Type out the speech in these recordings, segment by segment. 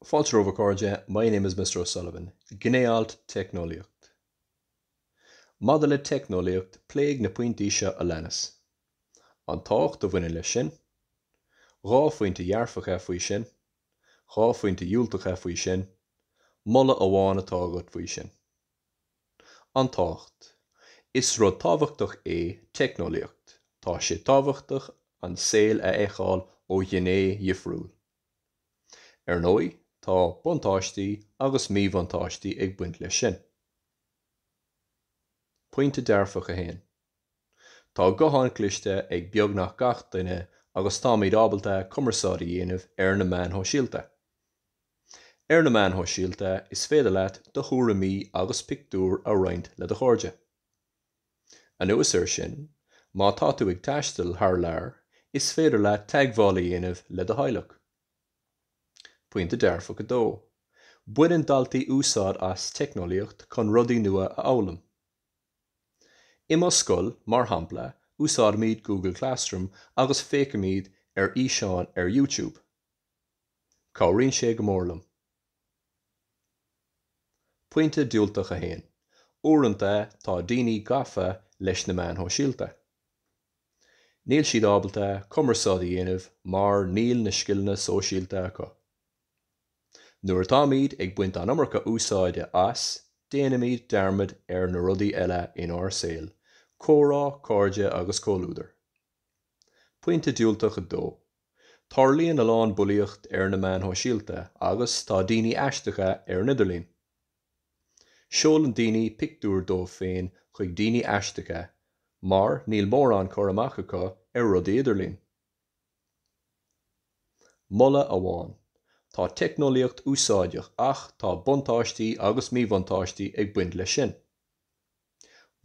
Fáilte romhaibh a chairde, My name is Mr. O'Sullivan. Gné-alt, Teicneolaíocht. Maidir le teicneolaíocht, pléigh na pointí seo a leanas, An tábhacht a bhaineann leis sin, Dhá phointe dhearfacha faoi sin, Dhá phointe dhiúltacha faoi sin, Moladh amháin atá agat faoi sin. An tábhacht. Is rud tábhachtach é teicneolaíocht, tá sé tábhachtach an saol a fheiceáil ó ghné dhifriúil. Ar ndóigh, tá buntáistí agus míbhuntáistí ag baint leis sin. Pointe dearfach 1. Tá guthán cliste ag beagnach gach duine agus táimid ábalta cumarsáid a dhéanamh ar na meáin shóisialta. Ar na meáin shóisialta is féidir leat do thuairimí agus pictiúir a roinnt le do chairde. Anuas air sin, má tá tú ag taisteal thar lear is féidir leat teagmháil a dhéanamh le do theaghlach. Pointe dearfach 2, Baineann daltaí úsáid as teicneolaíocht chun rudaí nua a fhoghlaim. I mo scoil, mar shampla, úsáidimid Google Classroom agus féachaimid ar fhíseáin ar YouTube. Cabhraíonn sé go mór liom. Pointe diúltach a haon, uaireanta tá daoine gafa leis na meáin shóisialta. Níl siad ábalta cumarsáid a dhéanamh mar níl na scileanna sóisialta acu. Nuair atáimid ag baint an iomarca úsáide as, déanaimid dearmad ar na rudaí eile inár saol, comhrá, cairde agus comhluadar. Pointe diúltach 2, Tarlaíonn a lán bulaíocht ar na meáin shóisialta agus tá daoine aisteacha ar an idirlíon. Seolann daoine pictiúir díobh féin chuig daoine aisteacha mar níl mórán cur amach acu ar rudaí idirlín. Moladh amháin, Tá teicneolaíocht úsáideach ach tá buntáistí agus míbhuntáistí ag baint leis sin.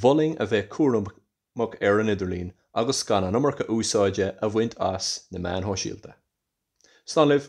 Mholfainn a bheith cúramach mach ar an idirlíon agus gan an iomarca úsáide a bhaint as na meáin shóisialta. Slán libh!